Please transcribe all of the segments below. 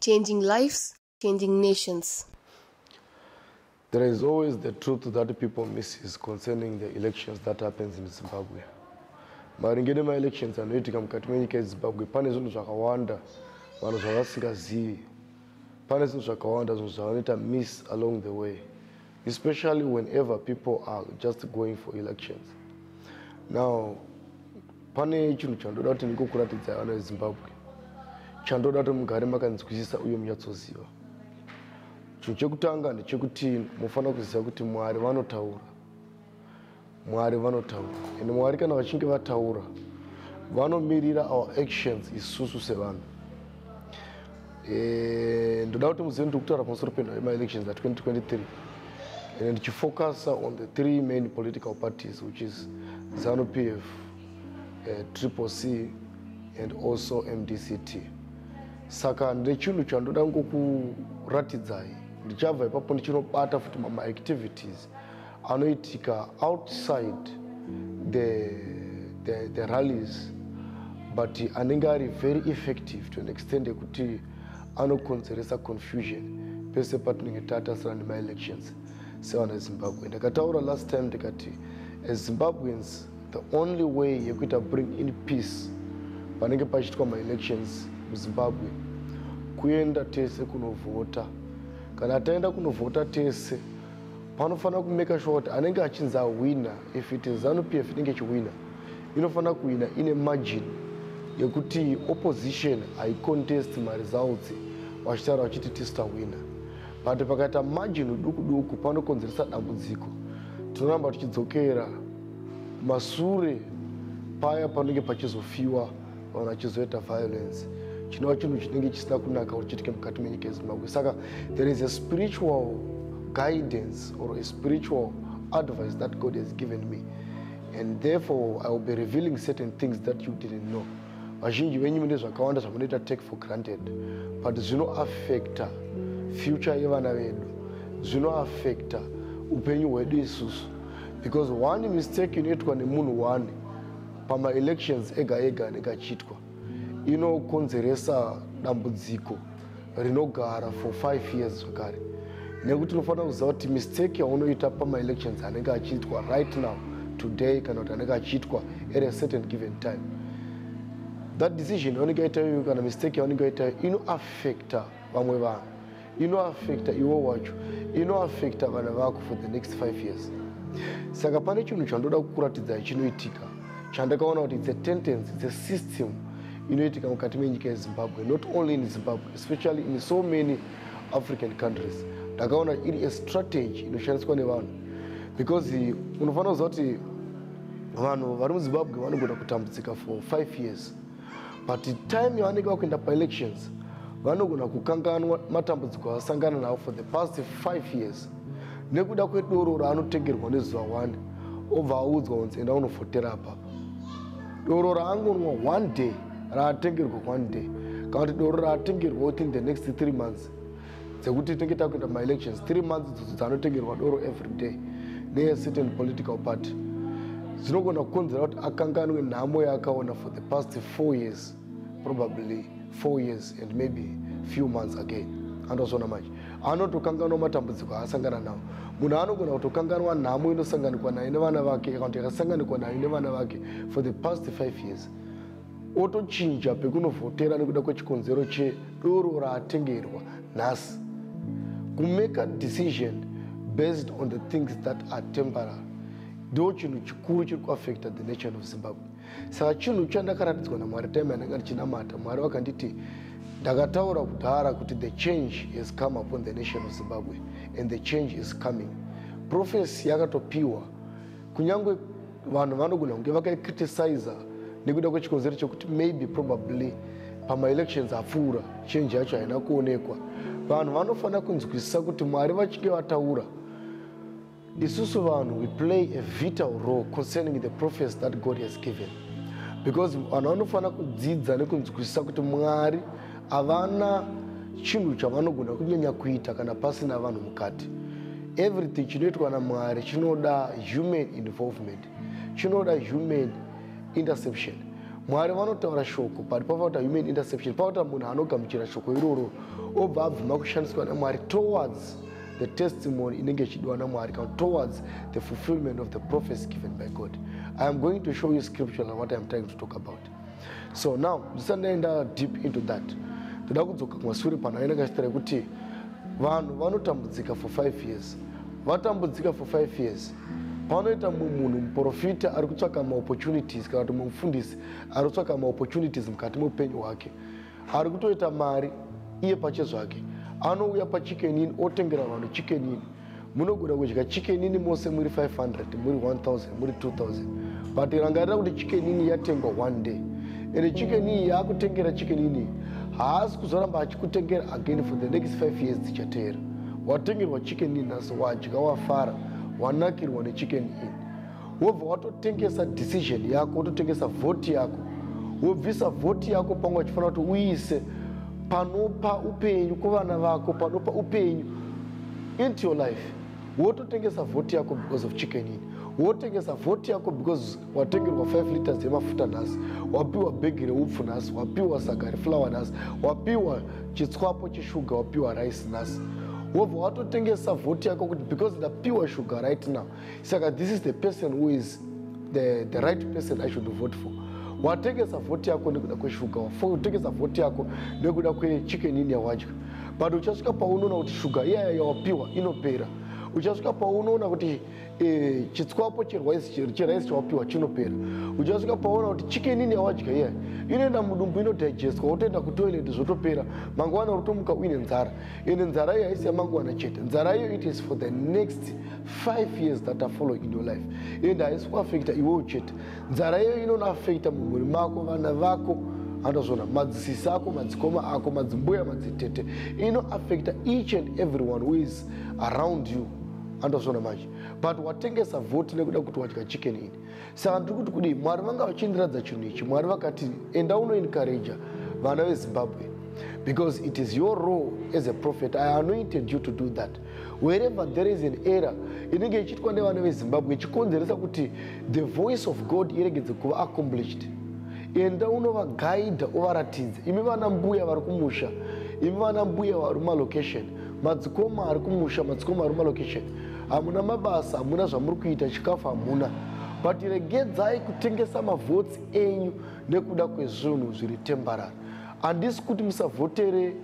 Changing lives, changing nations. There is always the truth that people misses concerning the elections that happens in Zimbabwe. maringe nemaelections anoitika mukati menyika yezimbabwe pane zvinhu zvakawanda vanhu zvavasingazivi pane zvinhu zvakawanda zvinhu zvavanoita miss along the way especially whenever people are just going for elections now pane chinhu chandoda kuti ndikokuratidzai vana vezimbabwe chandoda kuti mugare makanzwisisa uye munyatsoziva chinhu chekutanga ndechekuti mufanira kuziva kuti mwari vanotaura mwari vanotaura and mwari kana vachinge vataura vanomirira our actions isusu sevanhu eh, ndoda kuti muzive ndiri kutaura pamusoro penhau yemaelections a2023 and ndichifocusa on the three main political parties which is zanu p f eh, triple c and also mdct saka ndechinhu chandoda ngokuratidzai ndichabva ipapo ndichinobata futi mamaactivities anoitika outside the, the, the rallies but anenge ari very effective to an extent yekuti anokonzeresa confusion pese patinenge tatasira nemaelections sevanhu vezimbabwe ndakataura last time ndikati as zimbabweans the only way yekuita bring in peace panenge pachiitwa maelections muzimbabwe kuenda tese kunovhota kana taenda kunovhota tese panofanira kumaker sure kuti anenge achinzi ahwina if it is zanu p f inenge ichihwina inofanira kuhwina ine margin yekuti opposition haicontest maresults vachitaura vachiti tisitahwina but pakaita margin uduku duku panokonzeresa dambudziko tinoramba tichidzokera masure paya panenge pachizofiwa or achizoita violence chinova chinhu chinenge chisina kunaka or chiitike mukati menyika yezimbabwe saka there is a spiritual guidance or a spiritual advice that god has given me and therefore i will be revealing certain things that you didn't know vazhinji venyu mune zvakawanda zvamunoita take for granted but zvinoaffecta future yevana vedu zvinoaffecta upenyu hwedu isusu because one mistake inoitwa nemunhu one pamaelections ega ega anenge achiitwa inokonzeresa dambudziko rinogara for five years zvakare nekuti tinofanira kuziva kuti mistake yaunoita pamaelections anenge achiitwa right now today kana kuti anenge achiitwa at a certain given time that decision yaunenge yaita iyoyo kana mistake yaunenge yaita iyo inoaffecta vamwe vanhu inoafekta iwo wacho inoafekta vana vako for the next five years saka pane chinhu chandoda kukuratidzai chinoitika chandakaona kuti its a tendency its a system inoitika mukati menyika yezimbabwe not only in zimbabwe especially in so many african countries ndakaona iri a strategy inoshandiswa nevanhu because unofanira kuziva kuti vanhu vari muzimbabwe vanogona kutambudzika for five years but time yavanenge vakuenda paelections vanogona kukanganwa matambudziko avasangana navo for the past five years nekuda kwedoro raanotengerwa nezuva one obva audzwa kunzi enda unofotera apapa doro raangonwa one day raatengerwa one day kana kuti doro raatengerwa within the next three months dzekuti tinenge takuita maelections three months dzidzo dzanotengerwa doro every day neyecertain political party zvinogona kukonzera kuti akanganwe nhamo yaakaona for the past four years probably four years and maybe few months again andozvona manje anotokanganwa matambudziko aasangana nawo munhu anogona kutokanganwa nhamo inosanganikwa nayo nevana vake kana kuti yakasanganikwa nayo nevana vake for the past five years otochinja pekunovhotera nekuda kwechikonzero chedoro raatengerwa nhasi kumake a decision based on the things that are temporary ndo chinhu chikuru chiri kuaffecta the nation of zimbabwe saka chinhu chandakaratidzwa namwari time yandanga ndichinamata mwari vakanditi ndakataura kudhara kuti the change has come upon the nation of zimbabwe and the change is coming prophecy yakatopiwa kunyange vanhu vanogona kunge vakaicriticisa nekuda kwechikonzero chekuti maybe probably pamaelections apfuura chenji yacho haina kuonekwa vanhu vanofanira kunzwisisa kuti mwari vachinge vataura isusu vanhu we play a vital role concerning the prophecy that god has given because vanhu vanofanira kudzidza nekunzwisisa kuti mwari havana chinhu chavanogona kunyanya kuita kana pasina vanhu mukati everything chinoitwa namwari chinoda human involvement chinoda human interception mwari vanotaura shoko but pavakuta human interception pavakuta munhu anogamuchira shoko iroro obva abvuma kushandiswa namwari towards the testimony inenge ichidiwa namwari kana towards the fulfillment of the prophecy given by god i am going to show you scripture and what i am trying to talk about so now ndisati ndaenda deep into that ndoda kudzoka kumasure pano ainenge achitaura kuti vanhu vanotambudzika for five years vatambudzika for five years panoita mumwe munhu muprofita ari kutsvaka maopportunities kana kuti mumufundisi ari kutsvaka maopportunities mukati meupenyu hwake ari kutoita mari iye pache zvake anouya pachicken in otengera vanhu chicken in munogona kudya chicken in mose muri 500 muri 1000 muri 2000 but rangarira kuti chicken in yatengwa one day ende chicken in yaakutengera chicken in haasi kuzoramba achikutengera again for the next 5 years dzichateera watengerwa chicken in nhasi wadya wafara wanakirwa nechicken in wobva watotengesa decision yako wototengesa vhoti yako wobvisa vhoti yako pamwe wachifanira kuti uise panopa upenyu kuvana vako panopa upenyu into your life wototengesa vhoti yako because of chicken ini wotengesa vhoti yako because watengerwa 5 liters yemafuta nhasi wapiwa bhegi reupfu nhasi wapiwa saga reflower nhasi wapiwa chitswapo cheshuga wapiwa rice nhasi wobva watotengesa vhoti yako kuti because ndapiwa shuga right now saka this is the person who is the, the right person i should vote for watengesa vhoti yako nekuda kweshuga watengesa vhoti yako nekuda kwechicken in yawadya but uchasvika paunoona kuti shuga iyaya yawapiwa inopera uchasvika paunoona kuti e, chitswapo cheraisi chawapiwa chinopera uchasvika pauona kuti chicken in yawadya iyaya inoenda mudumbu inodigestwa wotoenda kutoilet zvotopera mangwana unotomuka uine nzara ende nzara iyo haisi yamangwana chete nzara iyo it is for the next five years that are following in your life and haisi kuafekta iwewo chete nzara iyoyo inonoafekta mumhuri mako vana vako andozvona madzisisi ako madzikoma ako madzimbuya madzitete inoafekta each and everyone who is around you andozvona manje but watengesa voti nekuda kuti wadya chicken ini saka ndiri kuti kudii mwari vanga vachiindiradza chinhu ichi mwari vakati enda unoencouraja vana vezimbabwe because it is your role as a prophet i anointed you to do that wherever there is an error inenge ichiitwa nevana vezimbabwe ichikonzeresa kuti the voice of god iregedze kuva accomplished enda unovagaidha uvaratidze imi vana mbuya vari kumusha imi vana mbuya vari mumalocation madzikoma ari kumusha madzikoma ari mumalocation hamuna mabasa hamuna zvamuri kuita chikafu hamuna but regedzai kutengesa mavhotsi enyu nekuda kwezvinhu zviri tembarary handisi kuti musavhotere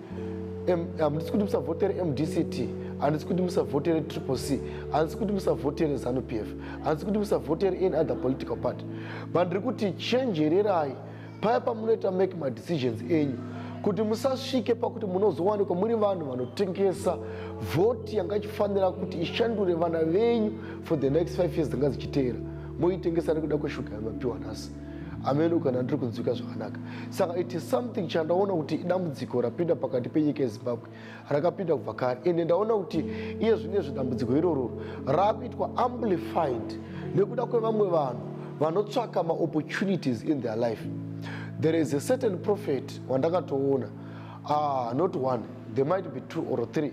handisi kuti musavhotere mdct handisi kuti musavhotere triple c handisi kuti musavhotere zanu p f handisi kuti musavhotere any other political party but ndiri kuti chenjererai paya pamunoita make madecisions enyu kuti musasvike pakuti munozowanikwa muri vanhu vanotengesa vhoti yanga ichifanira kuti ishandure vana venyu for the next five years dzanga dzichiteera moitengesa nekuda kweshuga yamapiwa nhasi ameno kana ndiri kunzwika zvakanaka saka it is something chandaona kuti idambudziko rapinda pakati penyika yezimbabwe rakapinda kubva kare ende ndaona kuti iye zvine zvedambudziko irororo raakuitwa amplified nekuda kwevamwe vanhu vanotsvaka maopportunities in their life there is a certain prophet wandakatoona ah, not one there might be two or three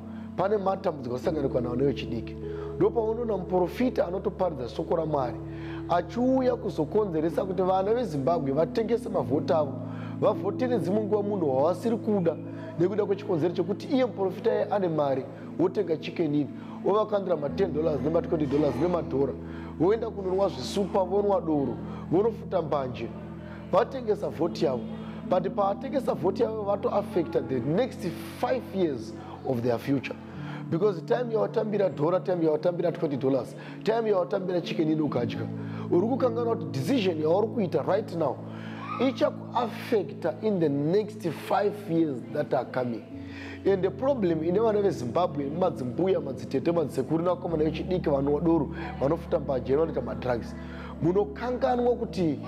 pane matambudziko asanganikwa nawo nevechidiki ndopaunoona muprofita anotoparidza shoko ramwari achiuya kuzokonzeresa kuti vana vezimbabwe vatengese mavhoti avo vavhotere dzimwe nguva munhu wavasiri kuda nekuda kwechikonzero chekuti iye muprofita ye ane mari wotenga chikenini wovakandira ma10 dollars nema20 dollars nemadhora voenda kunonwa zvisupa vonwa doro vonofuta mbanje vatengesa vhoti yavo but pavatengesa vhoti yavo vatoaffecta the next five years of their future because time yawatambira dhora time yawatambira 20 dollars time yawatambira chicken ini ukadya uri kukanganwa kuti decision yauri kuita right now ichakuaffecta in the next five years that are coming and the problem ine vana vezimbabwe madzimbuya madzitete madzisekuru nevakomana vechidiki vanowa doro vanofuta mbajeri vanoita madrugs munokanganwa kuti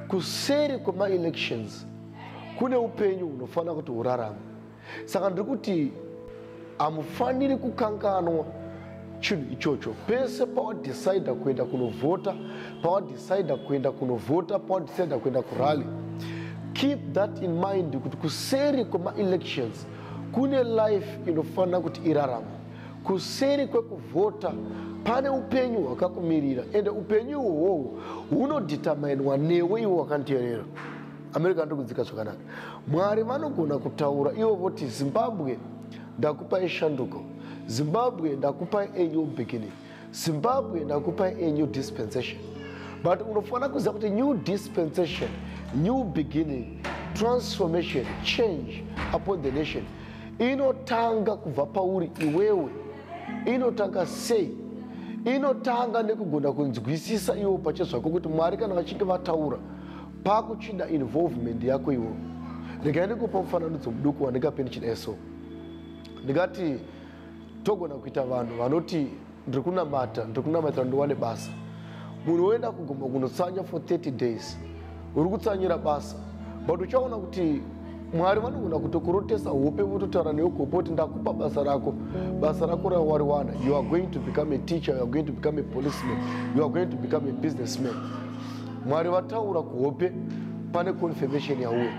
kuseri kwemaelections kune upenyu hunofanira kuti hurarama saka ndiri kuti hamufaniri kukanganwa chinhu ichocho pese pawadecida kuenda kunovhota pawadecida kuenda kunovhota pawadecida kuenda kurally keep that in mind kuti kuseri kwemaelections kune life inofanira kuti irarama kuseri kwekuvhota pane upenyu hwakakumirira ende upenyu iwohwohwo hunodhitamainwa newe iwe wakanteerera america anotokudzika zvakanaka mwari vanogona kutaura ivo voti zimbabwe ndakupai shanduko zimbabwe ndakupai a new beginning zimbabwe ndakupa a new dispensation but unofanira kuziva kuti new dispensation new beginning transformation change upon the nation inotanga kubva pauri iwewe inotanga sei inotanga nekugona kunzwisisa iwo pache zvako kuti mwari kana vachinge vataura pakuchida involvement yako iwo regai ndikupa mufananidzo muduku wandingape ndichida eso ndingati togona kuita vanhu vanoti ndiri kunamata ndiri kunamatira ndiwane basa munhu woenda kugomba kunotsanya for 30 days uri kutsanyira basa but uchaona kuti mwari vanogona kutokurotesa hope vototaura newe kuhope kuti ndakupa basa rako basa rako rawariwana you are going to become a teacher you are going to become a policeman you are going to become a businessman mwari vataura kuhope pane confirmation yauya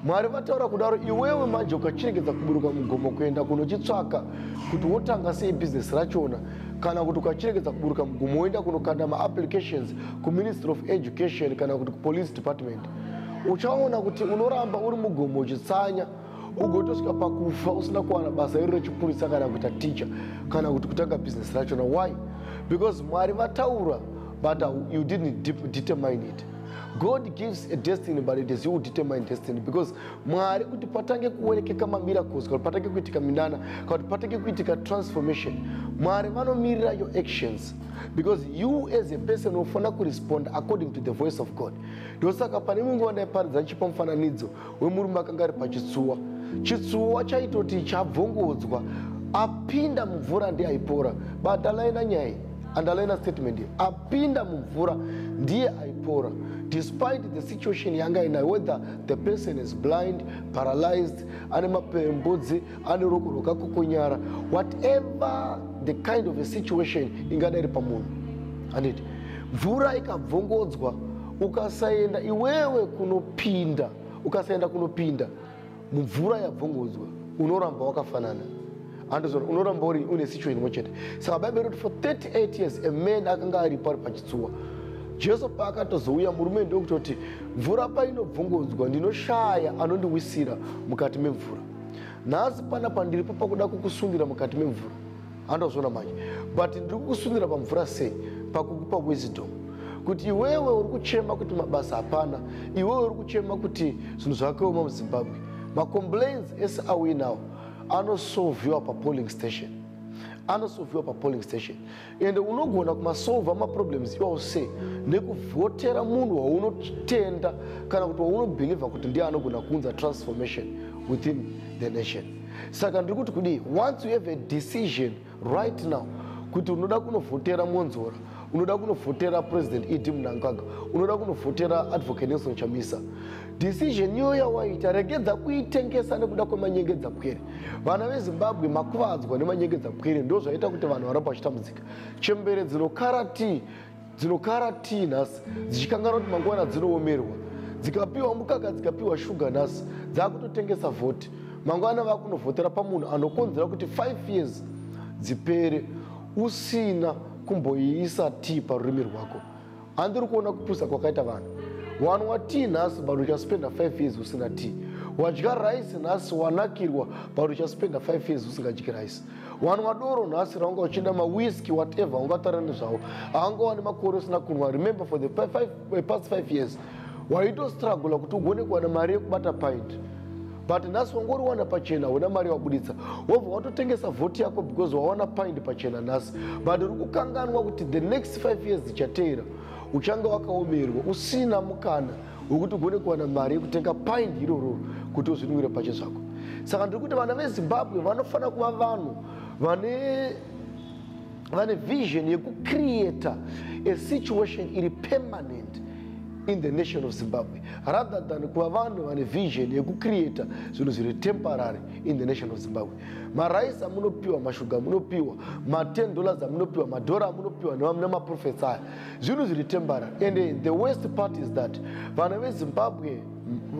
mwari vataura kudaro iwewe manje ukachiregedza kuburuka mugomo kuenda kunochitsvaka kuti wotanga sei bhizinesi rachona kana kuti ukachiregedza kuburuka mugomo woenda kunokanda maapplications kuministry of education kana kuti kupolice department uchaona kuti unoramba uri mugomo uchitsanya ugotosvika pakufa usina kuwana basa iri rechipurisa kana kuita ticha kana kuti kutanga bhizinesi rachona why because mwari vataura but you didn't determine it god gives a destiny but it is you who determine destiny because mwari kuti patange kuonekeka mamiracles kuti patange kuitika minana kuti patange kuitika transformation mwari vanomirira your actions because you as a person unofanira kurespond according to the voice of god ndosaka pane mumwe nguva ndaiparidza ndichipa mufananidzo wemurume akanga ari pachitsuwa chitsuwa chaitoti chabvongodzwa apinda mumvura ndiye aipora badalaina nyaya andalaina statement ye apinda mumvura ndiye aipora despite the situation yanga inayo whether the person is blind paralyzed ane mapembudzi ane ruoko rwakakokonyara whatever the kind of a situation ingadai iri pamunhu handiti mvura ikabvongodzwa ukasaenda iwewe kunopinda ukasaenda kunopinda mumvura yabvongodzwa unoramba wakafanana andizvo unoramba uri une situation imwe chete saka baibe roti for 38 years a man akanga aripo ari pachitsuwa jesu paakatozouya murume ndokutoti mvura painobvongodzwa ndinoshaya anondiwisira mukati memvura nhasi pana pandiripo pakuda kukusundira mukati memvura andazviona manje but ndiri kukusundira pamvura sei pakukupa wisdom kuti iwewe uri kuchema kuti mabasa hapana iwewe uri kuchema kuti zvinhu zvakaoma muzimbabwe macomplains ese auinawo anosolviwa papolling station anosolviwa papolling station ende unogona kumasolva maproblems iwawo se nekuvhotera munhu waunotenda kana kuti waunobhilivha kuti ndiye anogona kuunza transformation within the nation saka ndiri kuti kudii once you have a decision right now kuti unoda kunovhotera mwonzora unoda kunovhotera president ed munangagwa unoda kunovhotera advocate nelson chamisa Decision iyo yawaita regedza kuitengesa nekuda kwemanyengedza pwere. Vana veZimbabwe makuvadzwa nemanyengedza pwere ndozvaita kuti vanhu varamba vachitambudzika. Chembere dzinokara tii dzinokara tii nhasi dzichikanganwa kuti mangwana dzinoomerwa. Dzikapiwa mukaka dzikapiwa shuga nhasi dzakutotengesa vhoti. Mangwana vakunovhotera pamunhu anokonzera kuti 5 years dzipere usina kumboiisa tii parurimi rwako. handiri kuona kupusa kwakaita vanhu wanwa tii nhasi but uchaspenda 5 years usina tii wadya rice nhasi wanakirwa but uchaspenda 5 years usingadyi rice wanwa doro nhasi raunga uchienda mawiski whatever ungatara nezvavo haunga wani makore usina kunwa remember for the five, five, eh, past 5 years waitostragula kuti ugone kuwana mari yekubata pint but nhasi wangoriwana pachena huna mari wabuditsa wobva watotengesa vhoti yako because wawana paindi pachena nhasi but uri kukanganwa kuti the next five years dzichateera uchange wakaomerwa usina mukana wekuti ugone kuwana mari yekutenga paindi irororo kuti uzvinwire pache zvako saka ndiri kuti vana vezimbabwe vanofanira kuva vanhu vane vane vision yekucreata a situation iri permanent in the nation of zimbabwe rather than kuva vanhu vane vision yekucreata zvinhu zviri temporary in the nation of zimbabwe marais amunopiwa mashuga amunopiwa ma10 dollars amunopiwa madhora amunopiwa nemaprofets aya zvinhu zviri temporary and the worst part is that vana vezimbabwe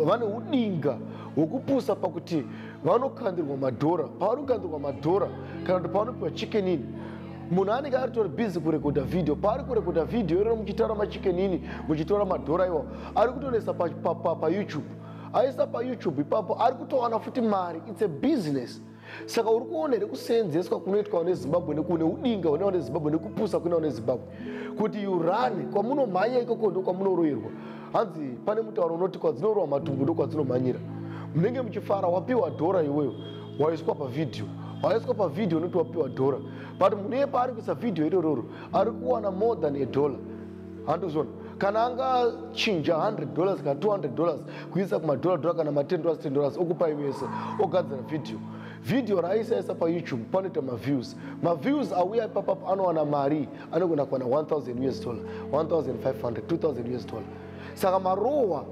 vane udinga hwekupusa pakuti vanokandirwa madhora pavanokandirwa madhora kana kuti pavanopiwa chicken ini munhu anenge aritori busy kurekodha vhidhiyo paari kurekodha vhidhiyo irero muchitaura machicken ini muchitora madhora iwawo ari kutonoisa payoutube aisa payoutube ipapo ari kutowana futi mari its a business saka uri kuona here kuseenzeswa kunoitwa nezimbabwe nekune udinga hunewa nezimbabwe nekupusa kunewa nezimbabwe kuti urane kwamunomhanya ikoko ndo kwamunoroirwa kwa hanzi pane mutauro unoti kwadzinorowa matumbu ndokwadzinomhanyira munenge muchifara wapiwa dhora iweyo waiswa pavhidhiyo waiswa pavhidhiyo unoti wapiwa dhora but munhu iye paari kuisa vhidhiyo irororo ari kuwana more than a dollar handizvona kana angachinja 100 dollars kana 200 dollars kuisa kumadhora dhora kana ma10 dollars 10 dollars okupai mese ogadzira vhidhiyo vhidhiyo raaisaisa payoutube panoita maviews maviews auya ipapapo anowana mari anogona kuwana 1000 us dollar 1500 2000 us dollar saka marohwa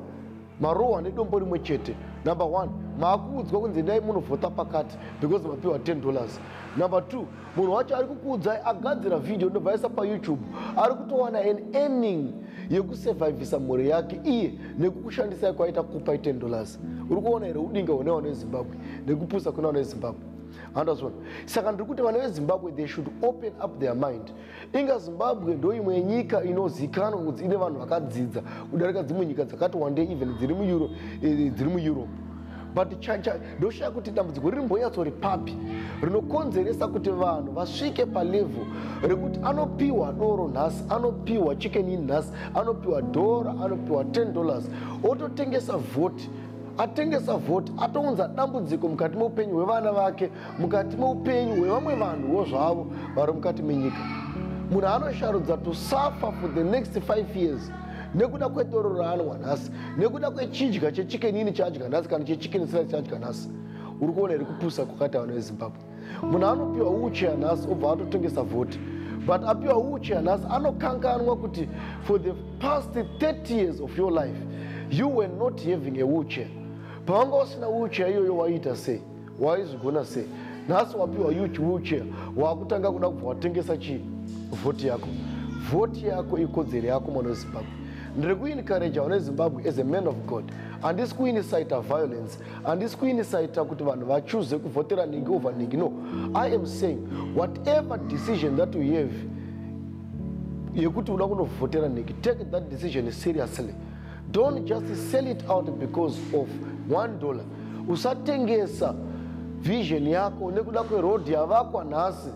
marohwa nedombo rimwe chete number one maakuudzwa kunzi endai munovhota pakati because mapiwa 10 dollars number two munhu wacho ari kukuudzai agadzira vhideo ndobvaisa payoutube ari kutowana an earning yekusevhaivhisa mhuri yake iye nekukushandisai kwaita kupai 10 dollars uri kuona here udinga hune wana ezimbabwe nekupusa kune wana ezimbabwe handazvona saka ndiri kuti vana vezimbabwe they should open up their mind inga zimbabwe ndo imwe yenyika inozikanwa kuti ine vanhu vakadzidza kudarika dzimwe nyika dzakati wande even dziri mueuro eh, dziri mueurope but ndoshaya kuti dambudziko riri mbonyatso ripapi rinokonzeresa kuti vanhu vasvike palevhel rekuti anopiwa doro nhasi anopiwa chicken in nhasi anopiwa dhora anopiwa 10 dollars ototengesa vhoti atengesa vhoti atounza dambudziko mukati meupenyu hwevana vake mukati meupenyu hwevamwe vanhuwo zvavo vari mukati menyika munhu anosharudza to suffer for the next five years nekuda kwedoro raanwa nhasi nekuda kwechidya chechikenini chaadya nhasi kana chechikenini sila chaadya nhasi uri kuona iri kupusa kwakati vanhu vezimbabwe munhu anopiwa wheelchair nhasi obva atotengesa vhoti but apiwa wheelchair nhasi anokanganwa kuti for the past 30 years of your life you were not having a wheelchair pawanga usina wheelchair iyoyo waiita sei waizvigona sei nhasi wapiwa wheelchair waakutanga kuda kubva watengesa chii vhoti yako vhoti yako ikodzero yako mwana wezimbabwe ndiri kuincouraja vana wezimbabwe as a man of god handisi kuinisita violence handisi kuinisaita kuti vanhu vachuze kuvhotera nhingi over nhingi no i am saying whatever decision that you have yekuti uda kunovhotera nhingi take that decision seriously don't just sell it out because of one dollar usatengesa vision yako nekuda kweroad yavakwa nhasi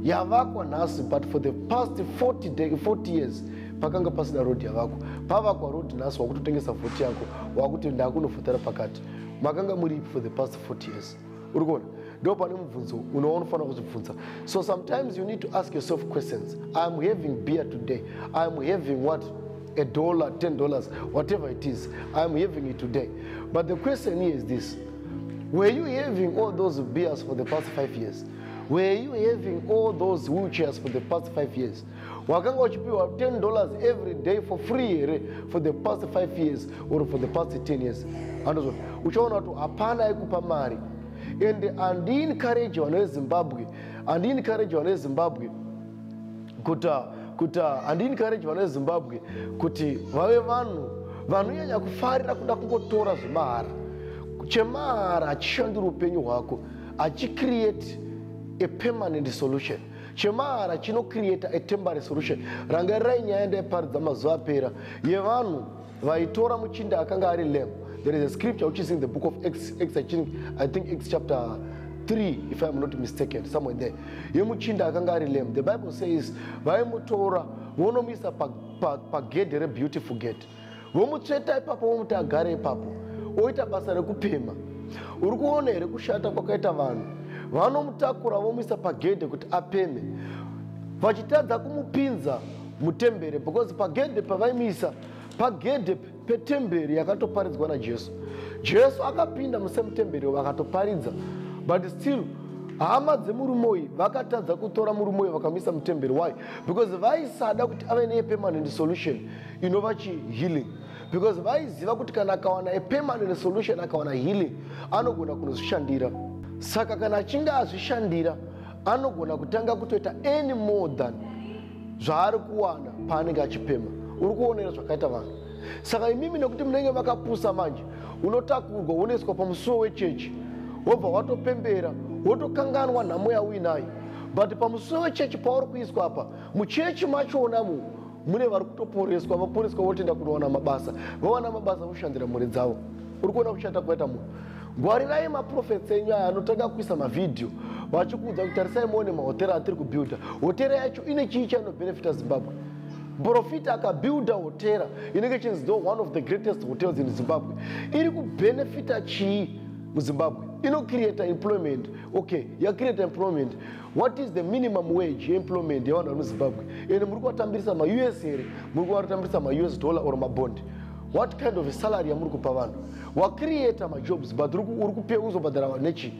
yavakwa nhasi but for the past 40, day, 40 years pakanga pasina road yavakwa pavakwa road nhasi wakutotengesa vhoti yako wakuti ndakunovhotera pakati makanga muri for the past 40 years uri kuona ndo pane mubvunzo unoona ufanira kuzvibvunza so sometimes you need to ask yourself questions iam having beer today iam having what a dollar ten dollars whatever it is iam having it today but the question here is this were you having all those beers for the past five years were you having all those wheelchairs for the past five years wakanga uchipiwa 10 dollars every day for free here for the past five years or for the past 10 years andozvo uchaona kuti hapana aikupa mari and andiencourage vana vezimbabwe andiencourage vana vezimbabwe kuti kuti andiencourage vana vezimbabwe kuti vave vanhu vanonyanya kufarira kuda kungotora zvemahara chemahara hachishandiri upenyu hwako hachicreate a permanent solution chemahara chinocreata a temporary solution rangarirai nyaya ndaiparidza mazuva apera yevanhu vaitora muchinda akanga ari lamb there is a scripture which is in the book of x, x I, think, i think x chapter 3 if iam not mistaken somewhere there yemuchinda akanga ari lamb the bible says vaimutora vonomuisa pagedhe pa, pa rebeautiful gate vomutsveta ipapo vomuti agare ipapo oita basa rekupema uri kuona here kushata kwakaita vanhu vanomutakura vomuisa pagedhe kuti apeme vachitadza kumupinza mutembere because pagedhe pavaimuisa pagedhe petembere yakatoparidzwa najesu jesu akapinda musemutembere vakatoparidza but still hama dzemurume uyu vakatadza kutora murume uyu vakamuisa mutemberi why because vaisada kuti ave nepermanent solution inova chihealing because vaiziva kuti kana akawana a permanent solution akawana healing anogona kunozvishandira saka kana achinge azvishandira anogona kutanga kutoita any more than zvaari kuwana paanenge achipema uri kuonera zvakaita vanhu saka imimi nekuti munenge makapusa manje unotakurwa wonoiswa pamusuwo wechechi wobva watopembera wotokanganwa nhamo yauinayo but pamusuwo wechechi pauri kuiswa apa muchechi machona mu mune vari kutoporeswa vaporeswa votenda kunowana mabasa vawana mabasa voshandira mhuri dzavo uri kuona kushata kwaita munhu ngwarirai maprofets enyu aya anotanga kuisa mavhidhiyo vachikuudza kuti tarisai muone mahotera atiri kubuilda hotera yacho ine chii chainobenefita zimbabwe profita akabuilda hotera inenge chinzi do one of the greatest hotels in zimbabwe iri kubenefita chii muzimbabwe inocreata employment okay yacreata employment what is the minimum wage employment yevanhu vari muzimbabwe ende muri kuvatambirisa maus here muri kuvatambirisa maus dollar or mabond what kind of salary yamuri kupa vanhu wacreata majobs but uri kupe uzobhadhara vanhu nechi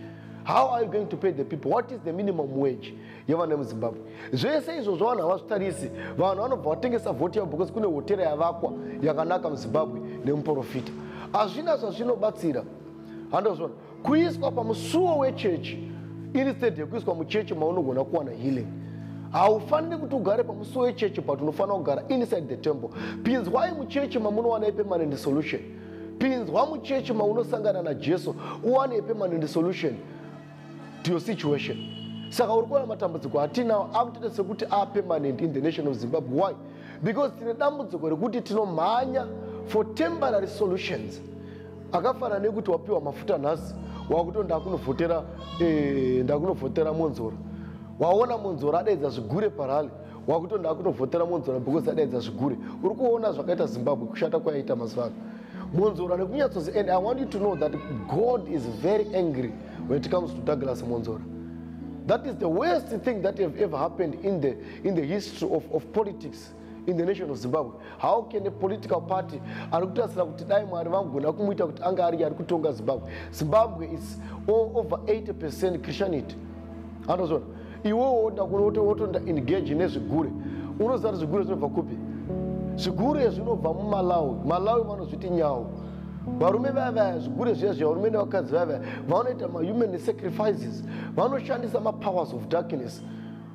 how are you going to pay the people what is the minimum wage yevana vemuzimbabwe zvese izvo zvavanhu havazvitarisi vanhu vanobva vatengesa vhoti yavo because kune hotera yavakwa yakanaka muzimbabwe nemuprofita hazvina zvazvinobatsira handozvona kuiswa pamusuwo wechechi iri stead yekuiswa muchechi maunogona kuwana healing haufaniri kuti ugare pamusuwo wechechi but unofanira kugara inside the temple pinzwai muchechi mamunowana ipermanent solution pinzwa muchechi maunosangana najesu uwane ipermanent solution to your situation saka uri kuona matambudziko hatinawo akutoita sekuti apermanent in the nation of zimbabwe why because tine dambudziko rekuti tinomhanya for temporary solutions akafana nekuti wapiwa mafuta nhasi wakuto ndakunovhotera eh, ndakunovhotera monzora waona monzora adaidza zvigure parali wakuto ndakunovhotera monzora because adaidza zvigure uri kuona zvakaita zimbabwe kushata kwayaita mazuva ano monzora nekunyatsozi and i want you to know that god is very angry when it comes to douglas monzora that is the worst thing that have ever happened in the, in the history of, of politics in the nation of zimbabwe how can a political party ari kutarisira kuti dai mwari vangona kumuita kuti anga ari ari kutonga zimbabwe zimbabwe is all over 80 percent christianity anozona iwewo oda kunotoenda engage nezvigure unoziva kuti zvigure zvinobva kupi zvigure zvinobva mumalawi malawi vanozviti nyawo varume vaya vaya zvigure zviya zviya varume nevakadzi vaya vaya vanoita mahuman sacrifices vanoshandisa mapowers of darkness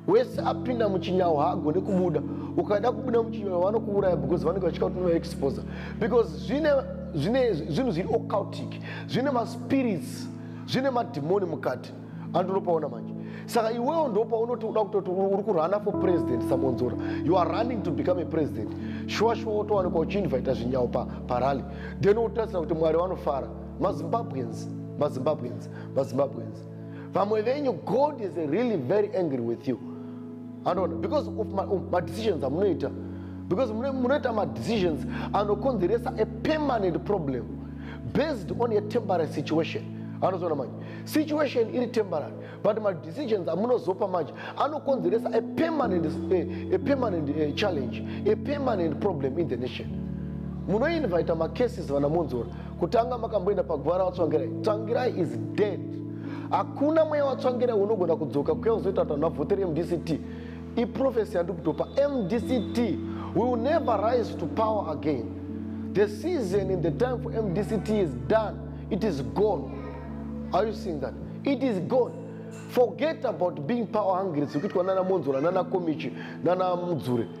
wese apinda muchinyawo haagone kubuda ukaenda kubuda muchinyawo vanokuuraya because vanenge vachika kuti unovaexposa because zvine zvine zvinhu zviri occultic zvine maspirits zvine madhimoni mukati andiropaona manje saka iwewo ndopaunoda kutoti uri kurana for president samonzora you are running to become a president shuwa shuwa wotowanikwa uchiinvita zvinyawo parally then wotarisira kuti mwari vanofara mazimbabweans mazimbabweans mazimbabweans vamwe venyu god is really very angry with you anoona because of madecisions um, amunoita because munoita madecisions anokonzeresa a permanent problem based on a temporary situation anozoona manje situation iri temporary but madecisions amunozopa manje anokonzeresa a permanent, a, a permanent a eh, challenge a permanent problem in the nation munoinvita macases vana monzora kutanga makamboenda pagwara watsvangirai tsvangirai is dead hakuna mweya watsvangirai unogona kudzoka kuya uzoita kuti vanhu vavhotere mdct iprofesi yandikutopa mdct will never rise to power again the season in the time for mdct is done it is gone are you seeing that it is gone forget about being power hungry zikuitwa nana monzora nana komichi nana mudzure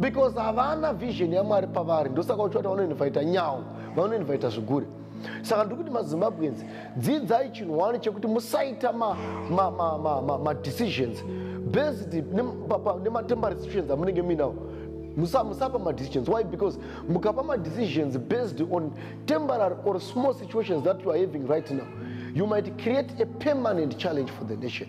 because havana vision yamwari pavari ndosaka uchiwati vanoinvaita nyawo vanoinvaita zvigure saka ndiri kuti mazimbabwenzi dzidzai chinhu wani chekuti musaita madecisions based nematember decisions amunenge muinawo musapa madecisions why because mukapa madecisions based on temporary or small situations that you are having right now you might create a permanent challenge for the nation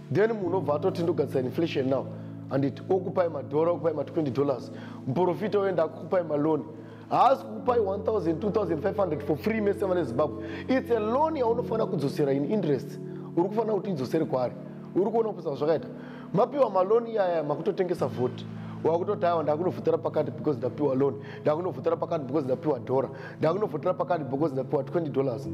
then munhu obva atoti ndogadzisa inflation now handiti okupai madhora okupai ma20 dollars muprofita oenda akukupai maloni haasi kukupai 1200 for free mese vane zimbabwe its a loan yaunofanira kudzosera in interest uri kufanira kuti idzosere kwaari uri kuona kupisa zvakaita mapiwa maloni iyaya makutotengesa vhoti wakutoti aiwa ndakunovhotera pakati because ndapiwa loan ndakunovhotera pakati because ndapiwa dhora ndakunovhotera pakati because ndapiwa 20 dollars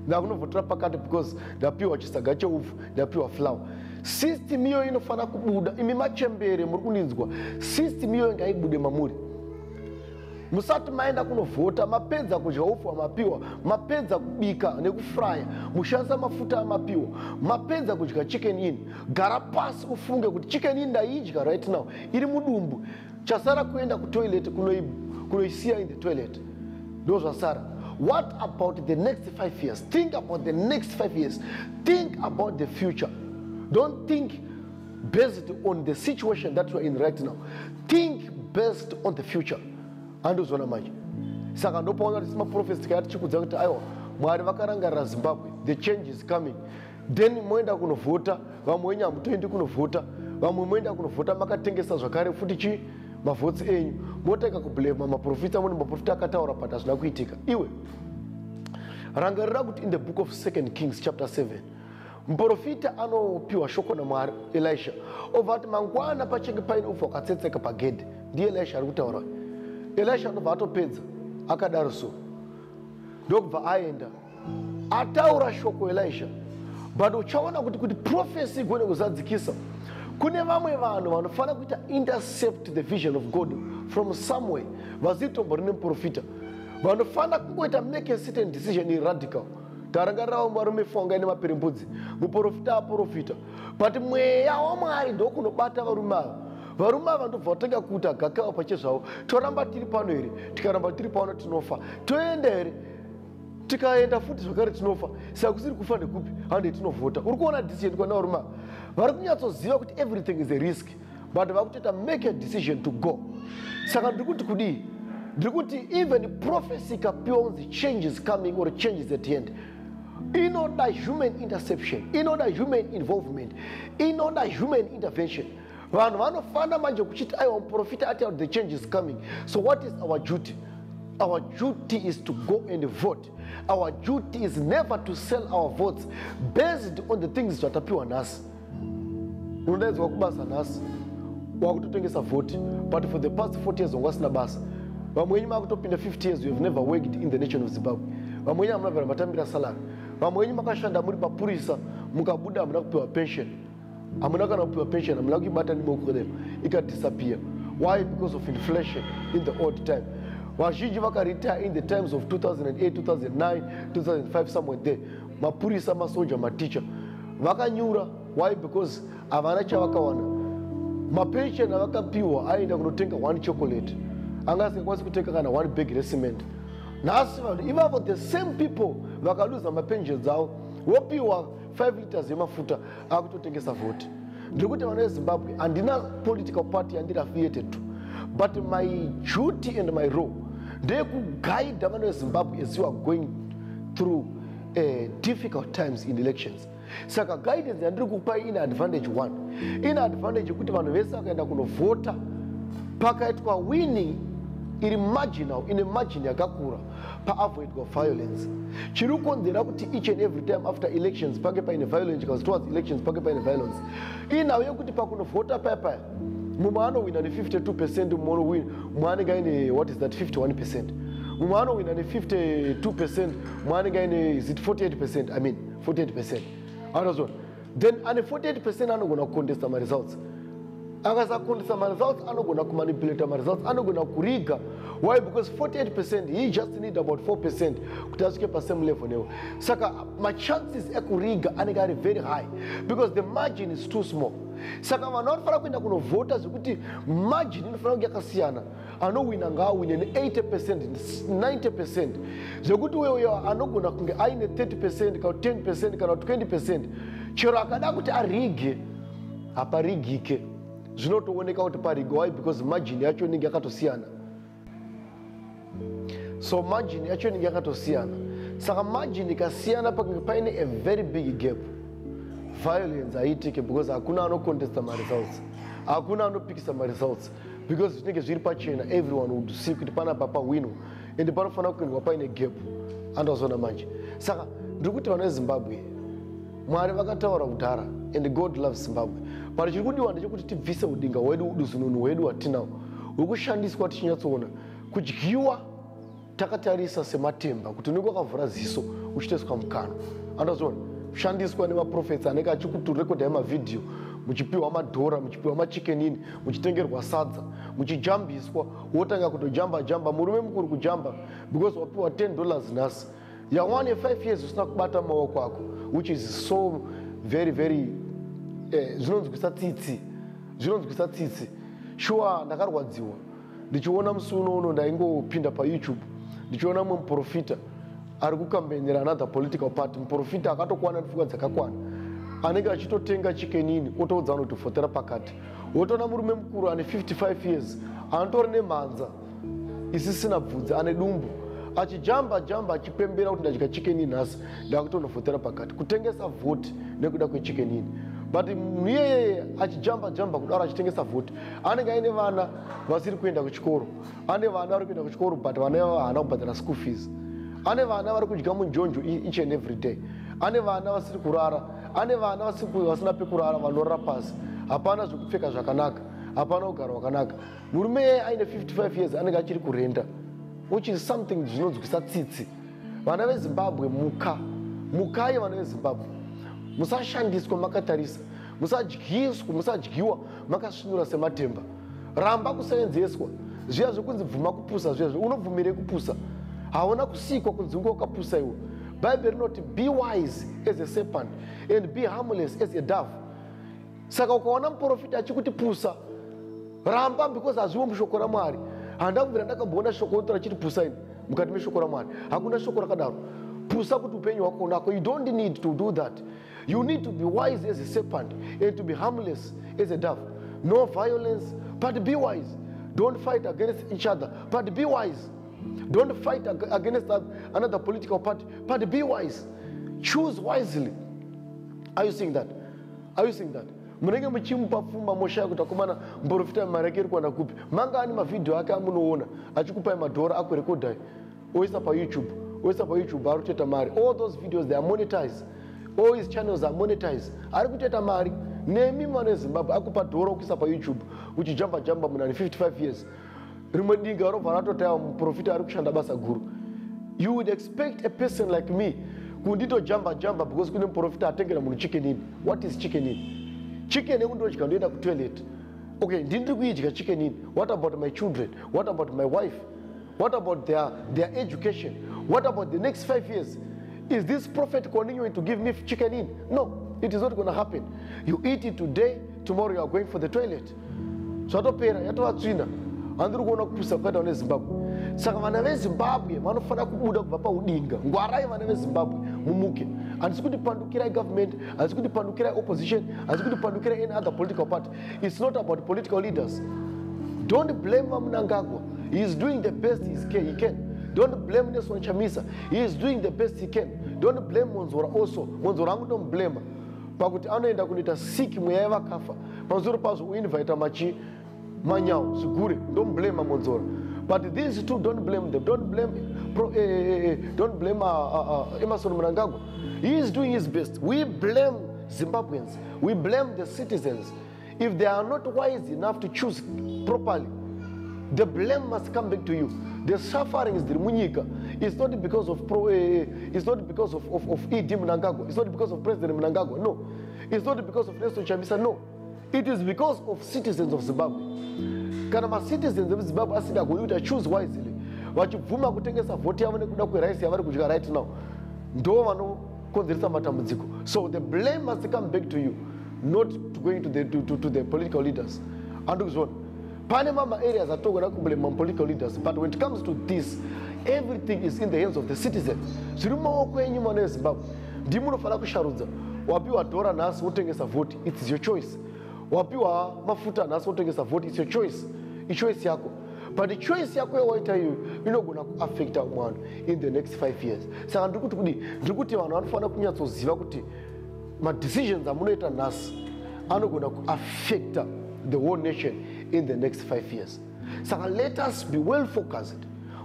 ndakunovhotera pakati because ndapiwa chisaga cheupfu ndapiwa flower system iyoyo inofanira kubuda imi machembere muri kundinzwa system iyoyo ngaibude mamuri musati maenda kunovhota mapedza kudya upfu hwamapiwa mapedza kubika nekufraya mushandisa mafuta amapiwa mapedza kudya chicken in gara pasi ufunge kuti chicken in ndaidya right now iri mudumbu chasara kuenda kutoilet kunoisiya in the toilet ndo zvasara what about the next five years think about the next five years think about the future don't think based on the situation that youare in right now think based on the future andozviona manje saka ndopaona kuti simaprofesi tikaya tichikudza kuti aiwa mwari vakarangarira zimbabwe the change is coming then moenda kunovhota vamwe wenyu hamutoendi kunovhota vamwe moenda kunovhota makatengesa zvakare futi chii mavhotsi enyu motanga kublema maprofita amweni maprofita akataura but hazvina kuitika iwe rangarira kuti in the book of second kings chapter 7 muprofita anopiwa shoko namwari elisha obva ati mangwana pachinge paine upfu hwakatsetseka pagedhi ndiye elisha ari kutaura elisha anobva atopedza akadaro so ndokubva aenda ataura shoko elisha but uchaona kuti kuti profesi igone kuzadzikisa kune vamwe vanhu vanofanira kuita intercept the vision of god from somewhere vazivi tombo rine muprofita vanofanira kungoita make a certain decision in radical tarangarirawo varume fonga ine mapirimbudzi muprofita aprofita but mweya wamwari ndokunobata varume ava varume ava ndobva vatanga kuita gakava pachezvavo toramba tiri pano here tikaramba tiri pano tinofa toenda here tikaenda futi zvakare tinofa saka kusiri kufa nekupi hande tinovhota uri kuona decision kwanauruma vari kunyatsoziva kuti everything is a risk but vari kutoita make a decision to go saka ndiri kuti kudii ndiri kuti even prophecy ikapiwa kunzi change is coming or change is at hand inoda human interception inoda human involvement inoda human intervention vanhu vanofana manje kuchiti aiwa muprofita ati out the change is coming so what is our duty our duty is to go and vote our duty is never to sell our votes based on the things zvatapiwa nhasi unodaidzwa kubasa nhasi wakutotengesa voti but for the past 40 years wanga asina basa vamwe wenyu makutopinda 50 years you have never worked in the nation of zimbabwe vamwe wenyu hamuna vhera matambira salary vamwe wenyu makashanda muri mapurisa mukabuda hamuna kupiwa pension hamuna kana kupiwa pension hamuna kuibata nemaoko renu ikadisappear why because of inflation in the old time vazhinji vakaretire in the times of 2008 2009 2005 somewhere there mapurisa masoja maticha vakanyura why because havana chavakawana mapension avakapiwa aienda kunotenga one chocolate anga asingakwanisi kutenga kana one bag recement nhasi vanhu ivavo the same people vakaluza mapension dzavo vopiwa 5 liters yemafuta akutotengesa voti ndiri kuti vana vezimbabwe handina political party yandiri affiliated to but my duty and my role ndeyekuguida vana vezimbabwe as you are going through uh, difficult times in elections saka guidance yandiri kupai in advantage one in advantage yekuti vanhu vese vakaenda kunovhota pakaitwa winning iri marginal ine margin yakakura paavoidwa violence chiri kukonzera kuti each and every time after elections pange paine violence chikazi towards elections pange paine violence inhau yekuti pakunovhota paya paya mumwe anowina ne52 percent mumwe anenge aine what is that 51 percent mumwe anowina ne52 percent mumwe anenge aine is it 48 percent i mean 48 percent anozona then ane 48 percent anogona kucontesta maresults akasacontesta maresults anogona kumanipulata maresults anogona kuriga why because 48 percent he just need about 4 percent kuti asvike pasame level newe saka machances ekuriga anenge ari very high because the margin is too small saka vanhu vanofanira kuenda kunovhota zvekuti margin inofanira kunge yakasiyana anowina ngaawine ne80 percent 90 percent zvekuti uyo uyo anogona kunge aine 30 percent kana 10 percent kana 20 percent chero akada kuti arige haparigike zvinotooneka kuti parigo why because margin yacho inenge yakatosiyana so margin yacho inenge yakatosiyana saka margin ikasiyana pakange paine a very big gap violence haiitike because hakuna anocontesta maresults hakuna anopikisa maresults because zvinenge zviri pachena everyone would see kuti panapa pahwino ende panofanira kuendwa paine gap andazoona manje saka ndiri kuti vana vezimbabwe mwari vakataura kudhara and god loves zimbabwe but chiri kudiwa ndechekuti tibvise udinga hwedu uduzununu hwedu hwatinao hwekushandiswa tichinyatsoona kudyiwa takatarisa sematemba kuti unenge wakavhura ziso uchitoiswa mukanwa andazoona kushandiswa nemaprofets anenge achikuturekodha emavhidhiyo muchipiwa madhora muchipiwa machikenini muchitengerwa sadza muchijambiswa wotanga kutojamba jamba murume mukuru kujamba because wapiwa 10 dollars nhasi yawane 5 years usina kubata maoko ako which is so very very eh, zvinonzwisa tsitsi zvinonzwisa tsitsi shuwa ndakarwadziwa ndichiona musi uno uno ndaingopinda payoutube ndichiona mumwe muprofita ari kukambenera another political party muprofita akatokwana nepfungwa dzakakwana anenge achitotenga chikenini otoudza vanhu kuti fotera pakati wotoona murume mukuru ane 55 years anotori nemhanza isisina bvudzi ane dumbu achijamba jamba achipembera kuti ndadya chikenini nhasi ndakutonofotera pakati kutengesa vhoti nekuda kwechikenini but iyeyeye achijamba jamba kudaro achitengesa vhoti anenge aine vana vasiri kuenda kuchikoro ane vana vari kuenda kuchikoro but vana ivavo haana kubhadhara school fees ane vana vari kudya munjonjo each and every day ane vana vasiri kurara ane vana vasina pekurara vanorara pasi hapana zvekupfeka zvakanaka hapana kugara wakanaka murume yeye aine 55 years anenge achiri kurenda which is something zvinonzwisa tsitsi vana vezimbabwe muka mukai vana vezimbabwe musashandiswa makatarisa musadyiswa musadyiwa makasvinura sematemba ramba kusevenzeswa zviya zvekunzi bvuma kupusa zviya unobvumirei kupusa hauna kusikwa kunzi unge wakapusa iwe bhaibheri rinoti be wise as a serpent and be harmless as a dove saka ukaona muprofita achikuti pusa ramba because hazviwo mushoko ramwari handa kubvira ndakamboona shoko rotora chiti pusa ini mukati meshoko ramwari hakuna shoko rakadaro pusa kuti upenyu hwako unako you don't need to do that You need to be wise as a serpent and to be harmless as a dove. No violence, but be wise. Don't fight against each other, but be wise. Don't fight against another political party, but be wise. Choose wisely. Are you seeing that? Are you seeing that? munenge muchimupa pfuma moshaya kuti akomana mborofita mari yake iri kuwana kupi manga ani mavhidhiyo ake amunoona achikupai madhora akurekodhai oisa payoutube oisa payoutube ari kutoita mari all those videos they are monetize all his channels are monetize ari kutoita mari nemi mwana wezimbabwe akupa dhoro kuisa payoutube uchijamba jamba munani 55 years rimwe dinga robva ratotaya muprofita ari kushanda basa guru you would expect a person like me kundito jamba jamba because kune muprofita atengera munhu chicken in what is chicken in chicken ekundodya ndoenda kutoilet okay ndini ndiri kuidya chicken in what about my children what about my wife what about their, their education what about the next five years is this prophet continuing to give me chicken in no it is not going to happen you eat it today tomorrow you are going for the toilet zvatopera yatova tsvina handiri kuona kupusa kwakaita vane zimbabwe saka vana vezimbabwe vanofanira kubuda kubva paudinga ngwarai vana vezimbabwe mumuke handisi kuti pandukirai government handisi kuti pandukirai opposition handisi kuti pandukirai any other political party it's not about political leaders don't blame vamunangagwa he is doing the best he can, he can. don't blame nelson chamisa he is doing the best he can don't blame monzora also monzora angutomblema pakuti anoenda kunoita sik mweya yevakafa pazoro pazvo uinvita machi manyawo zvigure ndomblema monzora but these two don't blame them don't blame pro, eh, eh, eh, eh don't blame uh, uh, uh, emerson mnangagwa he is doing his best we blame zimbabweans we blame the citizens if they are not wise enough to choose properly the blame must come back to you the sufferings dhiri munyika is not because of pro, eh, eh, is not because of, of, of ed mnangagwa is not because of president mnangagwa no is not because of nelson chamisa no it is because of citizens of zimbabwe kana macitizens emuzimbabwe asida goni kuti achoose wisely vachibvuma kutengesa vhoti yavo nekuda kwerice yavari kudya right now ndo vano kukonzeresa matambudziko so the blame must come back to you not to going to the, to, to, to the political leaders andikuzviona pane mama areas atogona kublame mapolitical leaders but when it comes to this everything is in the hands of the citizen zviri mumaoko enyu mwana wezimbabwe ndimi unofanira kusharudza wapiwa dhora nhasi wotengesa vhoti its your choice wapiwa mafuta nhasi wotengesa vhoti its your choice ichoice yako but choice yako yawaita iyoyo inogona kuaffecta umwe vanhu in the next five years saka ndiri kuti kudii ndiri kuti vanhu vanofanira kunyatsoziva kuti madecisions amunoita nhasi anogona kuaffecta the whole nation in the next five years saka let us be well focused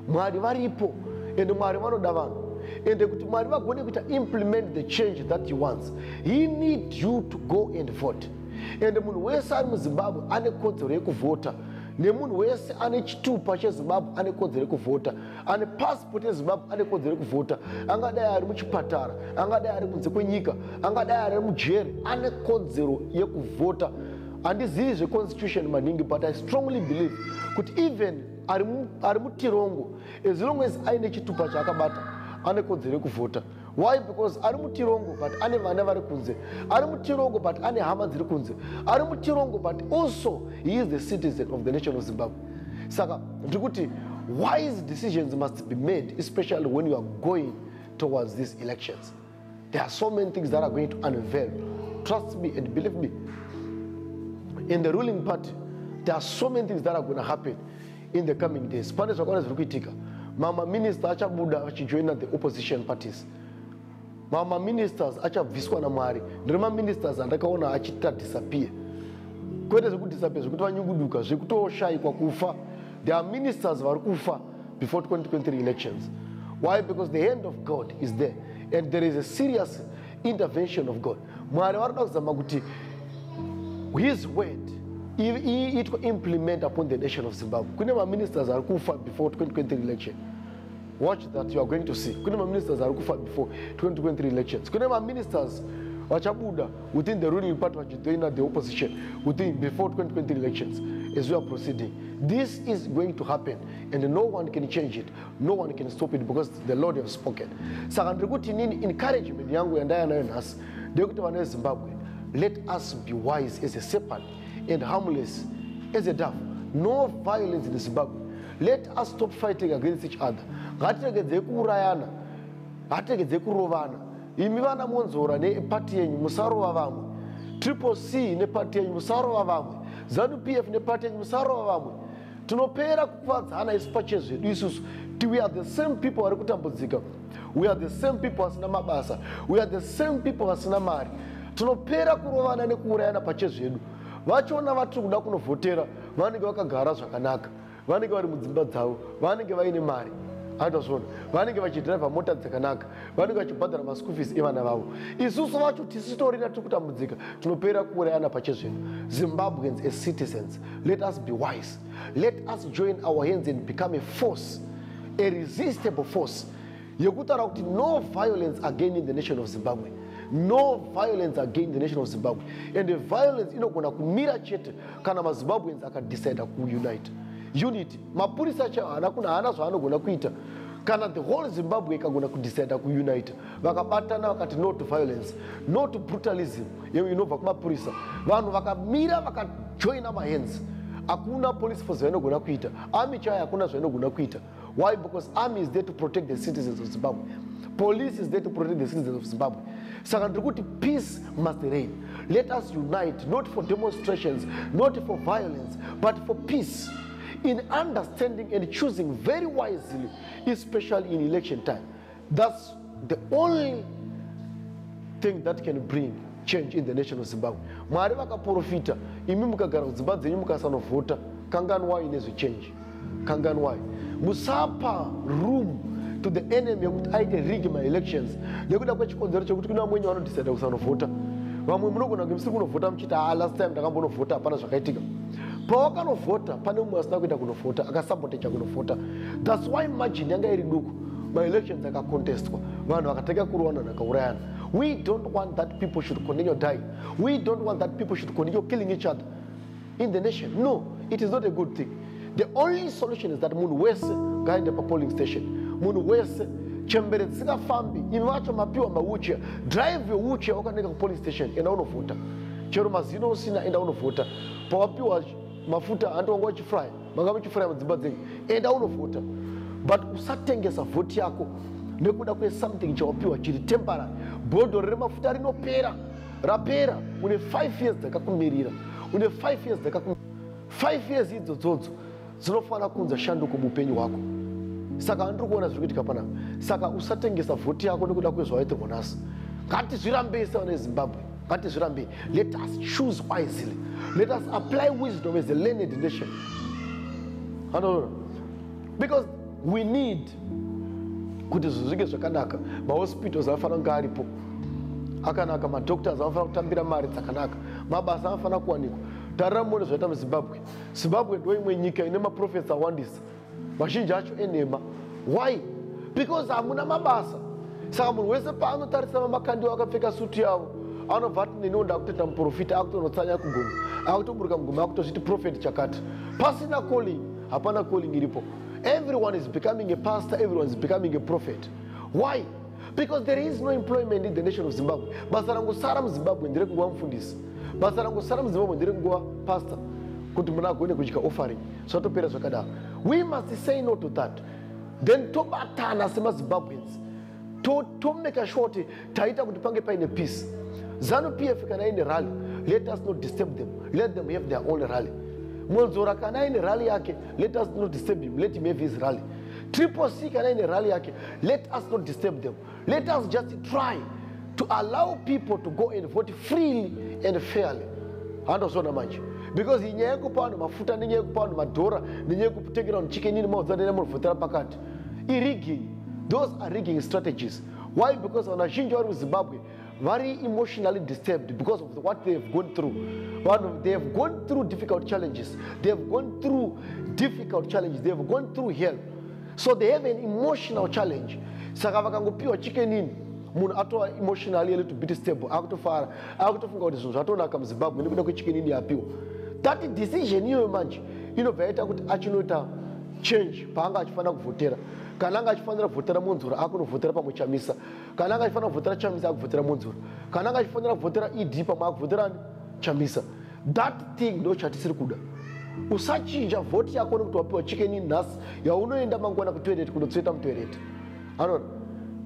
mwari varipo ende mwari vanoda vanhu ende kuti mwari vagone kuita implement the change that you wants he need you to go and vote ende munhu wese ari muzimbabwe ane kodzero yekuvhota nemunhu wese ane chitupa chezimbabwe ane kodzero yekuvhota ane pasipoti yezimbabwe ane kodzero yekuvhota angadai ari muchipatara angadai ari kunze kwenyika angadai ari mujeri ane kodzero yekuvhota handizivi zveconstitution maningi but i strongly believe kuti even ari mutirongo as long as aine chitupa chaakabata ane kodzero yekuvhota why because ari mutirongo but ane vana vari kunze ari mutirongo but ane hama dziri kunze ari mutirongo but also he is the citizen of the nation of zimbabwe saka ndiri kuti wise decisions must be made especially when you are going towards these elections there are so many things that are going to unveil trust me and believe me in the ruling party there are so many things that are going to happen in the coming days pane zvakawanda zviri kuitika mamwe maminista achabuda achijoina the opposition parties mamwe maministers achabviswa namwari ndiri maministers andakaona achiita disappear kwete zvekudisappear zvekuti vanyunguduka zvekutoshayikwa kufa the are ministers vari kufa before 2023 elections why because the hand of god is there and there is a serious intervention of god mwari varikuda kuzama kuti his word iitwa implement upon the nation of zimbabwe kune maministers ari kufa before 2023 election watch that you are going to see kune maministers ari kufa before 2023 elections kune maministers vachabuda within the ruling party vachijoina the opposition within before 2023 elections as we are proceeding this is going to happen and no one can change it no one can stop it because the lord have spoken saka ndiri kuti nini encouragement yangu yandaya nayo nhasi ndeyekuti vana vezimbabwe let us be wise as a serpent and harmless as a dove no violence in zimbabwe let us stop fighting against each other ngatiregedzei kuurayana ngatiregedzei kurovana imi vana monzora nepati yenyu musarova vamwe triple c nepati yenyu musarova vamwe zanu p f nepati yenyu musarova vamwe tinopera kukuvadzana isu pachezvedu isusu ti we are the same people vari kutambudzika we are the same people vasina mabasa we are the same people vasina mari tinopera kurovana nekuurayana pachezvedu vachiona vatiri kuda kunovhotera vanenge vakagara zvakanaka vanenge vari mudzimba dzavo vanenge vaine mari andazvona vanenge vachidhiraivha mota dzakanaka vanenge vachibhadhara maschool fees evana vavo isusu vacho tisitorina tiri kutambudzika tinopera kuurayana pachezvino zimbabweans as citizens let us be wise let us join our hands and become a force a resistable force yekutaura kuti no violence again in the nation of zimbabwe no violence again the nation of zimbabwe and the violence inogona kumira chete kana mazimbabweans akadecida kuunite unity mapurisa chao haana kuna haana zvaanogona kuita kana the whole zimbabwe ikagona kudecida kuunite vakabatana vakati no to violence no to brutalism yewe inobva kumapurisa vanhu vakamira vakajoina mahands hakuna police force vainogona kuita army chayo hakuna zvainogona kuita why because army is there to protect the citizens of zimbabwe police is there to protect the citizens of zimbabwe saka ndiri kuti peace must reign let us unite not for demonstrations not for violence but for peace in understanding and choosing very wisely especially in election time That's the only thing that can bring change in the nation of Zimbabwe. Mwari vakaprofita, imi mukagara kudzimba dzenyu mukasanovhota, kanganwai nezvechange. Kanganwai. Musapa room to the enemy yekuti aite rig my elections nekuda kwechikonzero chekuti kuna vamwenye vanodecida kusanovhota. Vamwe munogona kuti musiri kunovhota muchiti haa last time ndakambonovhota hapana zvakaitika. Pawakanovhota pane mumwe asina kuenda kunovhota, akasaboteja kunovhota. That's why margin yanga iri duku. maelections akacontestwa vanhu vakatanga kurowana nakaurayana we don't want that people should continue dying we don't want that people should continue killing each other in the nation no it is not a good thing the only solution is that munhu wese ngaende papolling station munhu wese chembere dzisingafambi imi vacho mapiwa mawuchia drive your wuchia wakaneka kupolling station enda unovhota chero mazino usina enda unovhota pawapiwa mafuta hanti wanga uchifraya manga muchifraya mudzimba dzenyu enda unovhota but usatengesa vhoti yako nekuda kwesomething chawapiwa chiri temporary bhodho remafuta rinopera rapera une five years dzakakumirira une five years dzakaku five years idzo dzodzo dzinofanira kunza shanduko muupenyu hwako saka andiri kuona zviri kuitika panapa saka usatengesa vhoti yako nekuda kwezvawaitirwa nhasi ngatizvirambei sevana vezimbabwe ngatizvirambe let us choose wisely let us apply wisdom as a learned nation anoona because we need kuti zvinhu zvinge zvakanaka mahospitals anofanira kunge aripo akanaka madoctors anofanira kutambira mari dzakanaka mabasa anofanira kuwanikwa tarira muone zvaita muzimbabwe zimbabwe ndoimwe nyika ine maprofesa awandisa mazhinji acho enhema why because hamuna mabasa saka munhu wese paanotarisa vamakandiwo akapfeka sutu yavo anobva ati neniwo ndakutoita muprofita akutonotsanya kuguma akutoburuka muguma akutozviti profeti chakati pasina calling hapana calling iripo everyone is becoming a pastor everyone is becoming a prophet why because there is no employment in the nation of zimbabwe basa rangosara muzimbabwe ndere kunguva mufundisi basa rangosara muzimbabwe ndere kunguva pastor kuti muna agone kudya offering zvatopera zvakadaro we must say no to that then tobatana semazimbabweans tomeka sure kuti taita kuti pange paine peace zanu p f kana ine rally let us not disturb them let them have their own rally monzora kana aine rally yake let us not disturb him let him have his rally triple c kana aine rally yake let us not disturb them Let us just try to allow people to go and vote freely and fairly. Handozona manje. Because inyaya yekupa vanhu mafuta nenyaya yekupa vanhu madhora nenyaya yekutengera vanhu chicken ini maudza nene munovhotera pakati. Irigging. Those are rigging strategies. Why? Because vanhu vazhinji vari muZimbabwe vari emotionally disturbed because of what they have gone through vanhu they have gone through difficult challenges they have gone through difficult challenges they have gone through hell so they have an emotional challenge saka vakangopiwa chikenini munhu atova emotionally a little bit stable akutofara akutofunga kuti zvinhu zvatonaka muzimbabwe nekuda kwechikenini yapiwa that decision iyoyo manje inobva yaita kuti achinoita change paanga achifanira kuvhotera kana anga achifanira kuvhotera monzura akunovhotera pamwe chamisa kana anga achifanira kuvhotera chamisa akuvhotera monzora kana anga achifanira kuvhotera ed pamwe akuvhotera chamisa that thing ndo chatisiri kuda usachinja vhoti yako nekuti wapiwa chikeni nhasi yaunoenda mangwana kutoireti kunotsveta mutoireti anoona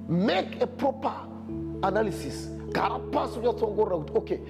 make a proper analysis gara pasi unyatsoongorora kuti okay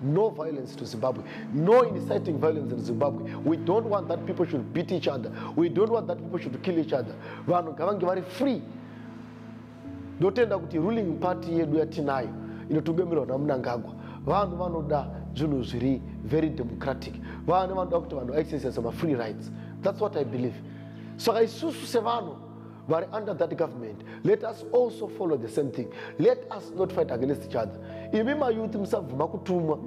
No violence to Zimbabwe. No inciting violence in Zimbabwe. We don't want that people should beat each other. We don't want that people should kill each other. Vanhu ngavange vari free. Ndotenda kuti ruling party yedu yatinayo inotungamirwa naMnangagwa. Vanhu vanoda zvinhu zviri very democratic. Vanhu vanoda kuti vanhu exercise ma free rights. That's what I believe. Saka isusu sevanhu vari under that government let us also follow the same thing let us not fight against each other imi mayouth musabvuma kutumwa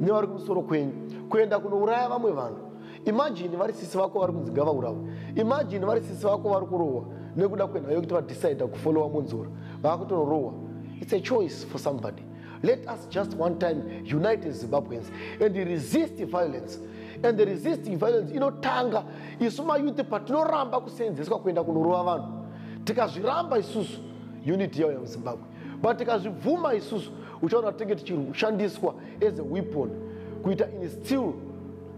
nevari kumusoro kwenyu kuenda kunouraya vamwe vanhu imagine vari sisi vako vari kunzi ngavaurawe imagine vari sisi vako vari kurohwa nekuda kwenhayo yekuti vadecide kufollowa monzora vaakutonorohwa its a choice for somebody Let us just one time unite as Zimbabweans and resist violence. And the resisting violence inotanga isu mayouth patinoramba kuseenzeswa kuenda kunorova vanhu. Tikazviramba isusu unity yauya muZimbabwe. But tikazvibvuma isusu uchaona tinge tichirushandiswa as a weapon kuita instill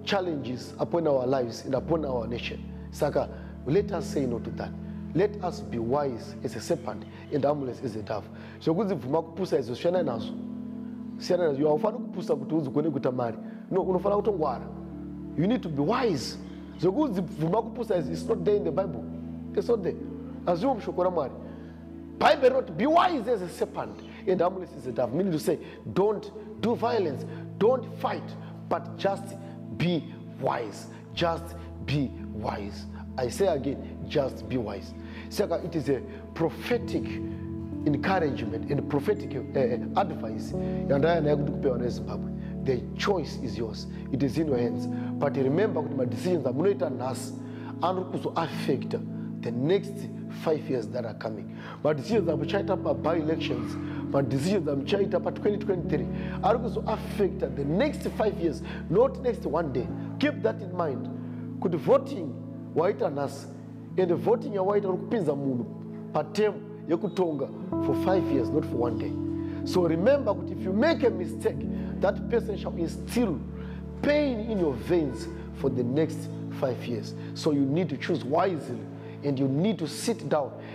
challenges upon our lives and upon our nation. Saka let us say no to that. Let us be wise as a serpent and harmless as a dove. zvekunzi bvuma kupusa izvo siyana nazvo siyana nazvo haufaniri kupusa kuti uzikone kuita mari no unofanira kutongwara you need to be wise zvekunzi bvuma kupusa izvo its not there in the bible its not there hazviwo mushoko ramwari bible rinoti be wise as a serpent and harmless as a dove meaning to say don't do violence don't fight but just be wise just be wise i say again just be wise saka it is a prophetic encouragement and prophetic uh, advice yandaya naye kuti kupewa nezimbabwe the choice is yours it is in your hands but remember kuti madecisions amunoita nhasi anori kuzoaffecta the next five years that are coming madecisions amuchaita paby elections madecisions amuchaita pa2023 ari kuzoaffecta the next five years not next one day keep that in mind kuti voting waita nhasi and voting yawaita uri kupinza munhu patem yekutonga for five years not for one day so remember kuti if you make a mistake that person shall instill pain in your veins for the next five years so you need to choose wisely and you need to sit down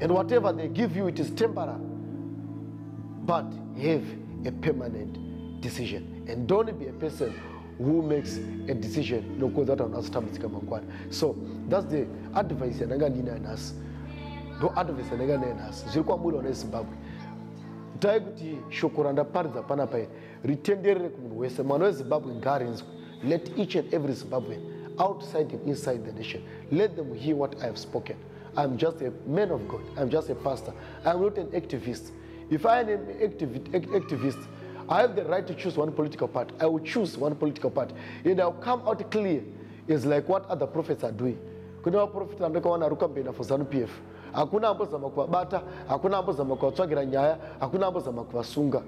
and whatever they give you it is temporary but have a permanent decision and don't be a person who makes a decision nokuudza kuti vanhu vazotambudzika mangwana so thats the advice yandanga ndiinayo nhasi ndo advice yandanga ndinayo nhasi zviri kwamuri vana vezimbabwe dai kuti shoko randaparidza pana pairi ritenderere kumunhu wese mwana wezimbabwe ngaarinzwe let each and every zimbabwean outside and inside the nation let them hear what i have spoken I'm just a man of God. I'm just a pastor. I'm not an activist. If I am an activist, I have the right to choose one political party. I will choose one political party. And I'll come out clear. It's like what other prophets are doing. Kune vaprofita vandakawana ari kukambena for ZANU PF. Hakuna ambozama kuvabata, hakuna ambozama kuvatsvagira nyaya, hakuna ambozama kuvasunga.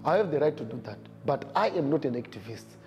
I have the right to do that, but I am not an activist.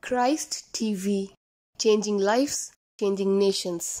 Christ TV, changing lives, changing nations.